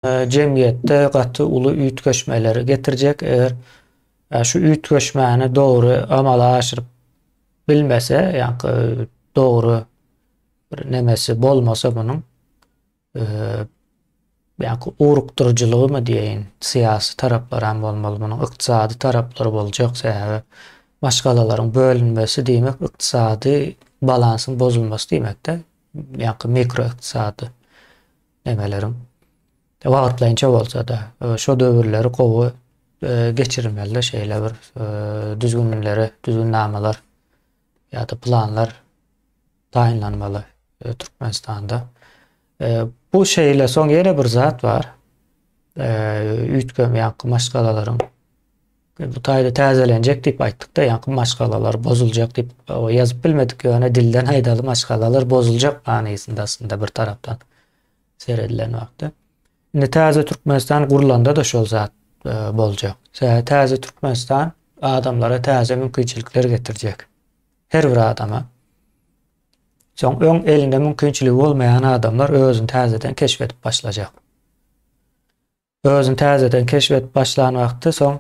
jemgyýetde gaty uly üýtgeşmeleri getirjek, eger şu üýtgeşmäni dogry amala aşyryp bilmese, ýaňky dogry bir nemesi bolmasa munuň, ýaňky ugrukdyryjylygymy diýeýin, syýasy taraplary hem bolmaly, munuň ykdysady taraplary boljak, sebäbi maşgalalaryň bölünmesi diýmek ykdysady balansyň bozulmasy diýmek-de, ýaňky mikroykdysady Nemeleriň wagtlaýynça bolsa-da, şo döwürleri gowy geçirmeli şeýle bir düzgünleri, düzgünnamalar ýa-da planlar taýynlanmaly Türkmenistanda. Bu şeýle, soň ýene bir zat bar. Üýtgemeýän maşgalalaryň Biz bu taýda täzelenjek diýip aýtdyk-da, ýaňky maşgalalar bozuljak diýip ýazyp bilmedik, ýöne dilden aýdaly maşgalalar bozuljak manysynda aslynda bir tarapdan seredilen wagtda. Indi täze Türkmenistan gurlanda-da şol zat e, boljak. Täze Türkmenistan adamlara täze mümkinçilikler getirjek. Her bir adama. Soň öň elinde mümkinçiligi bolmaýan adamlar özüni täzeden keşf edip başlajak. Özüni täzeden keşf edip başlan wagty soň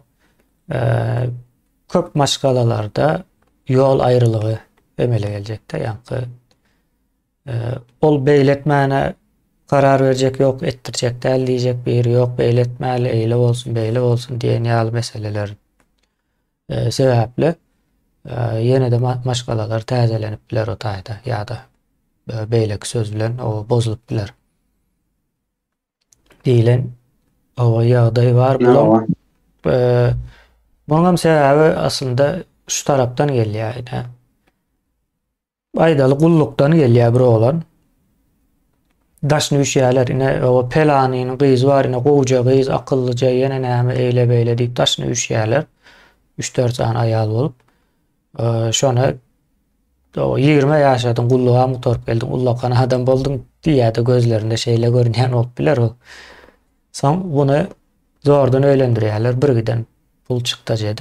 köp maşgalalarda ýol aýrylygy emele geljekde. Ýaňky ol beýletmäne karar berjek ýok, etdirjek däl diýjek biri ýok, beýletmäli, eýle bolsun, beýle bolsun diýen ýaly meseleler sebäpli ýene-de maşgalalar täzelenip biler o taýda ýa-da beýleki söz bilen o bozulyp biler. diýlen owa ýagdaý bar. Bulam Muňam sebäbi aslynda şu tarapdan gelýär ine. Aýdaly gullukdan gelýär bir oglan. Daşyny üşýärler ine o pelanynyň gyzy bar ine gowja gyz, akyllyja ýene näme eýle beýle diýip daşyny üşýärler. 3-4 sany aýal bolup. Şona ýigrime ýaşadyň, gullugam gutaryp geldiň, ullakan adam bolduň diýýärdi gözlerinde şeýle görünýän bolup biler o. Soň buny zordan öýlendirýärler, birgiden pul çykdajy edip.